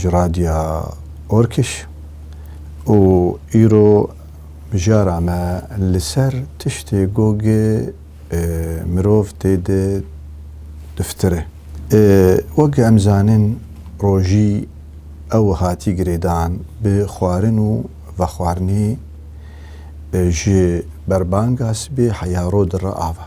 ji Radya Orkiş û îro mijara me li ser tiştê ku gi mirov tê de diftire. Wek em zanîn rojî ew hatî girêdan bi xwarin û vexwarinê ji berbanga sibê heya ro di re ava.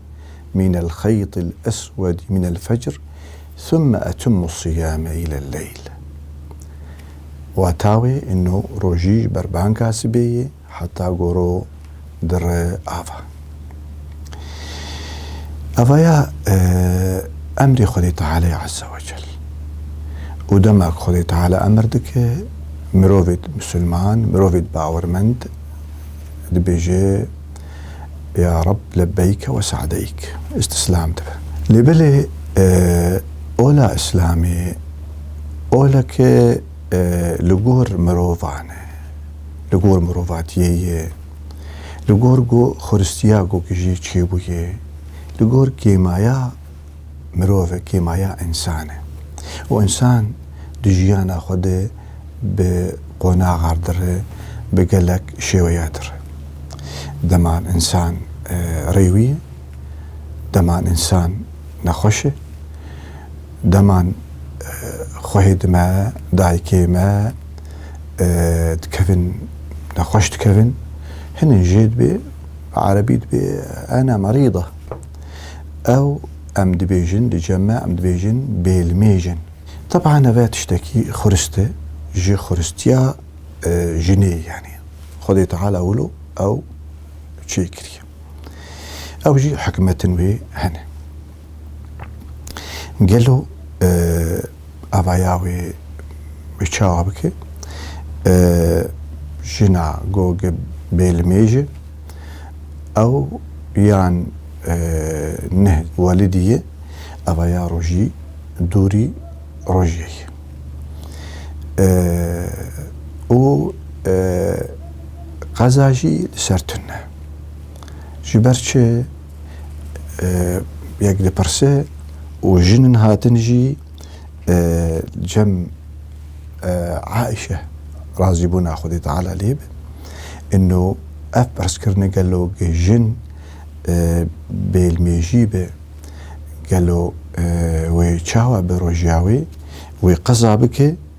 min el xeyt el eswed min el fecr thumme etimmu siyame ile leyl. Wata wê ino rojî ji ber banka sibê yê heta goro dire ava. Ava ya emrê Xwedê Teala ye Azze ve Cel. Û dema ku Xwedê Teala emr dike mirovêd musulman, mirovêd bawermend dibêje, Ya Reb lebeyke ve sadeyk. Îstîslam dibe. Lê belê ola îslamê oleke li gor mirovan e, li gor mirovatiyê ye, li gor xweristiya gokê jî çêbûyê, li gor kêmaya mirov e, kêmaya însan e û însan di jiyana xwe de bi qonaxar dire, bi gelek şêweya dire. Deman însan rêwî ye, deman însan nexweş e, deman xwehê di me, dayikê me dikevin nexweş dikevin. Hinên jê dibê bi erebî dibê ena merîda. Ew em dibêjin di cem me em dibêjin bêlmêj in. Teban ev e tiştekî xurist e ji xuristiya jinê yanî Xwedê Teala wilo ew çê kiriye. Ew jî hikmetin wê hene. Gelo Avaya wê bi çawa bike? Jina goge bê li mêj e? Ew yan neh welidî ye? Avaya rojî dûrî rojê ye. Û qeza jî li ser tune. Ji ber çi? yek dipirse û jinin hatin jî cem Aişe razîbûna Xwedê Teala lê be. Ino ev pirskrine gelo ge jin bêlmêjî be gelo wê çawa bi rojya wê wê qeza bike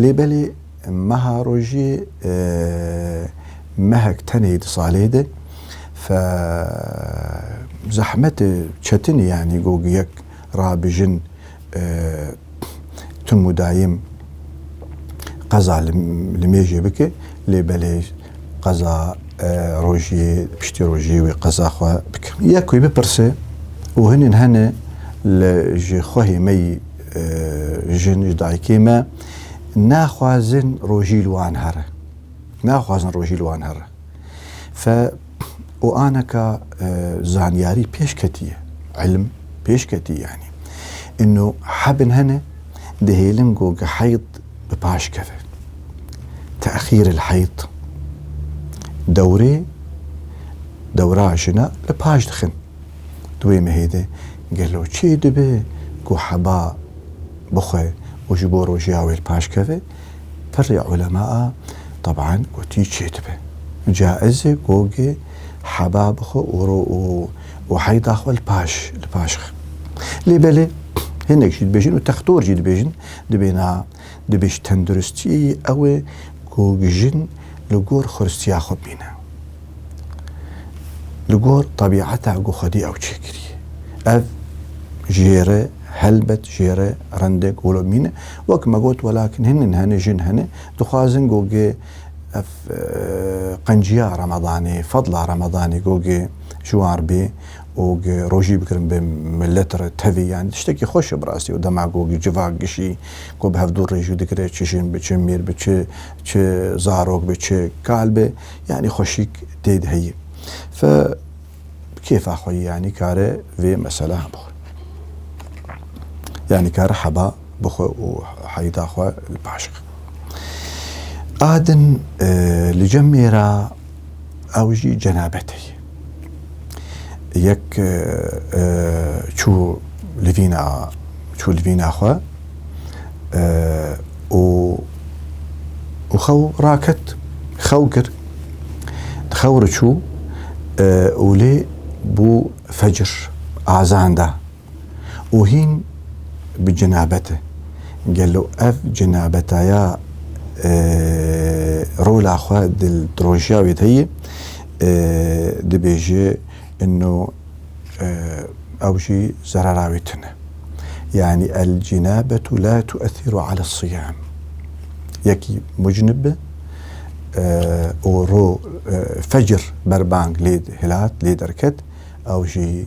Lê belê meha rojê mehek tenê di salê de fe zehmete çetinê yanî got yek rabijin tim û dayim qeza li mêjê bike lê belê qeza rojê piştî rojê wê qeza xwe bike. Yek wê bipirse û hinên hene li ji xwehê me yî Jin û dayikê me naxwazin rojî li wan here. Naxwazin rojî li wan here. Fe û aneka zanyarî pêş ketiye. Elm pêş ketiye yanî. Ino hebin hene dihêlin ku heyd bi paş keve. Texîr il heyd. Dewrê dewra jina li paş dixin. Di wê mehê de gelo çê dibe ku heba bixwe û ji bo rojêya wê li paş keve? Pirrê ulemaa teban gotî çê dibe. Caiz e gogê heba bixwe û ro û û heyda xwe li paş li paş xe. Lê belê hinek jî dibêjin û textor jî dibêjin dibêna di bêj tenduristiyê yê ew e ku jin li gor xuristiya xwe bîne. Li gor tebîeta ku Xwedî ew çêkiriye. Ev jêre helbet jêre rindek wilo mîne. Wek me got welakin hinin hene jin hene dixwazin ku gê ev qenciya Remedanê, fedla Remedanê ku gê ji wan re bê û gê rojî bikirin bi milet re tevî yanî tiştekî xweş e bi rastî û dema ku gê civak gişî Ku bi hevdû rê jû dikire çi jin bi çi mêr bi çi çi zarok bi çi kal bi yanî xweşîk tê de heye. Fe bi kêfa xwe yanî kare vê mesela bixwe. Yanî kare heba bixwe û heyda xwe li paşixe. Adin li cem mêra ew jî cenabetê ye. Yek çû li vîna çû li vîna xwe û û xew raket xew kir di xew re çû û lê bû fecir azan da. û hîn bi cenabet e. Gelo ev cenabetaya rola xwe di drojiya wê de yê dibêje ino ew jî zerera wê tune. Yani el cenabetu la tu'ethiru ala siyam. Yekî mucnib be û ro fecr berbang lê hilat lê derket ew jî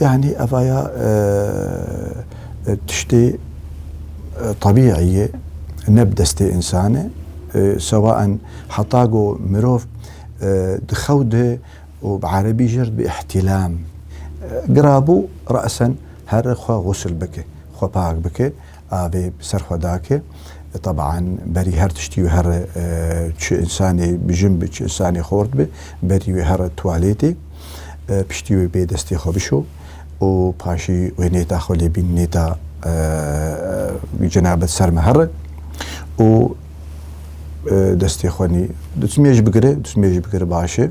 Yani evaya e, e, tiştê e, tabîîyê ne bi destê insane e, sewaen heta go mirov di xew de û bi erebî jir bi îhtîlam girabû resen her xwe xusl bike xwe pak bike avê bi ser xwe dake. Tebaan berî her tiştî û here çi însanê bijin bi çi însanê xort bi berî wê here tuwalêtê piştî wê bê destê xwe bişo û paşî wê nêta xwe lê bîn nêta cina bi ser min here û destê xwe nî dûsmê jî bigire dûsmê jî bigire baş e.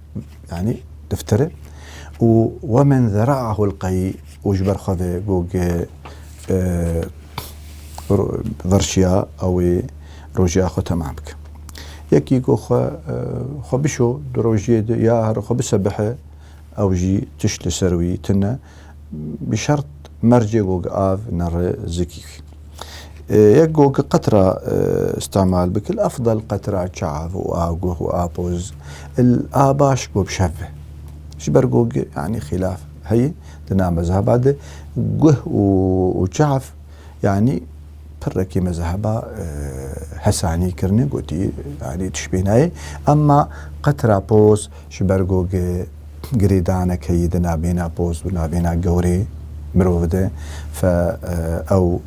yanî diftir e û we men zera'ahu l-qeyî û ji ber xwe ve gog e virşiya ew ê rojiya xwe temam bike. Yekî ku xwe xwe bişo di rojiyê de ya her xwe bisebihe ew jî tişt li ser wî tune. Bi şert mercê gogi av nere zikîk. Yek gogi qetra îstemal bik il efdal qetra çav û a guh û a poz il a baş gob şev be. Ji ber gogi yanî xîlaf heye di na mezheba de guh û çav Yanî pirrekî mezheba Hesanî kirine gotî yanî tişbînayê emma qetira poz ji ber ku girêdane keyî di navbêna poz û navbêna gewrê mirovi de fe ew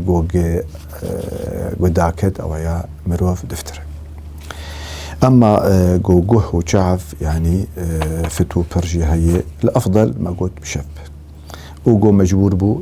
ku ku daket ew ya mirov diftir e. Emma ku guh û çav yanî fit û pir jî heye li efdel me got bi şev be. Û ku mecbûr bû